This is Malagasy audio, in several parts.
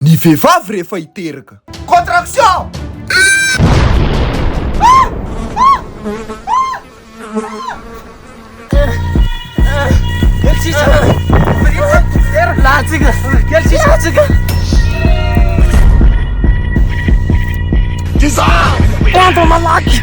ny vehivavy rehefa hiteraka. Contraction! Tizà! Tandro malaky!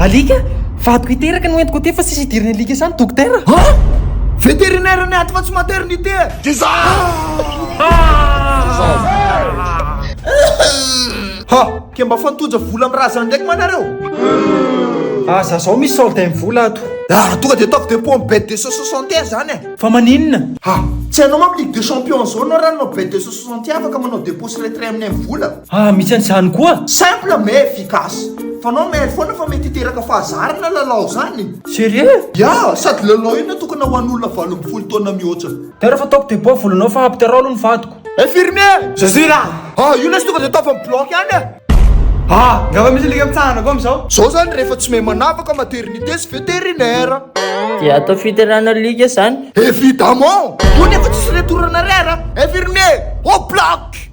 Alika? Vadiko hiteraka no entiko aty fa tsisy hidiran'ny alika sahy ny dokotera. Ha? Vétérinaire ny ato fa tsy maternité e! Diza! Ha! Ke mba fantoja vola amin'ny razana ndraiky ma nareo? Aza zao misy solde ny vola ato. Ah, tonga de ataovy dépôt amin'ny bet 261 zany e! Fa maninona? Ha! Tsy hainao manko ligue des champions zao anao raha nanao bet 261 afaka manao dépôt sy retrait amin'ny amin'ny vola? Ah misy an'izany koa? Simple mais efficace. Fanao mail foana fa mety hiteraka fahazarana lalao zany. Serieux? Yeah, sady lalao io natokana ho an'olona valo ambin'ny folo taona mihoatra. Tara fa ataoko deboha volanao fa ampy tara aloha ny vadiko. Infirmier! Zazay ra! Ah io lesy tonga de ataovy am bloc any e! Ah! Ngamba misy alika mitsahana koa amizao? Zao zany rehefa tsy mahay manavaka maternité sy vétérinaire. De atao fiterana alika zany? Evidemment! Io nefa tsisy retour an'arrière a! Infirmier! Au bloc!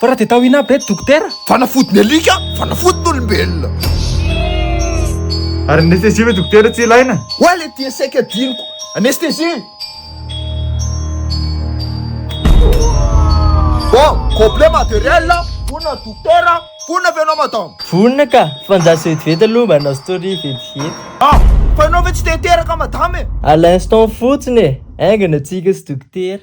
Fa raha dia tao inona aby re dokotera? Fanafody ny alika, fanafody ny olombelona. Ary ny anesthésie ve dokotera tsy ilaina? Oa le tia sec adinoko. Anesthésie! Bon, complet matériel, vonona ny dokotera, vonona ve ianao madame? Vonona ka, fa anjaso vetivety aloha mba hanao story vetivety. Ah! Fa ianao ve tsy te hiteraka madame e? À l'instant fotsiny e! Haingana antsika sy dokotera.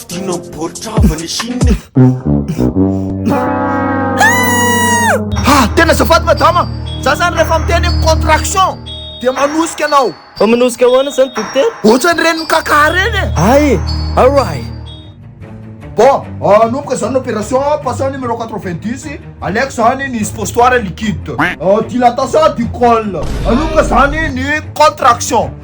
Fidiana ny baoritra avo any Chine e! Ah! Tena azafady madama! Za zany rehefa miteny hoe contraction dia manosika anao! Fa manosika ahoana zany dokotera? Ohatrany reny mikakà reny e! Ay! Aray! Bon, hanomboka zany ny opération, passons au numéro 90, aleiko zany ny suppositoire liquide, dilatation du col, hanomboka zany ny contraction.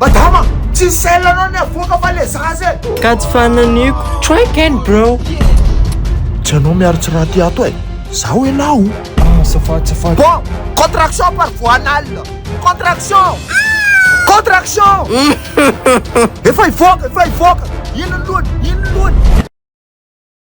Madama! Tsy sell anao ny avoaka fa le zaza e! Ka tsy fananiko. Try again bro. Tsy anao miaro tsy raha aty ato e! Zaho elah o! Ah safady safady. Bon! Contraction par voie anale! Contraction! Contraction! Efa hivoaka! Efa hivoaka! Ino ny lohany? Ino ny lohany?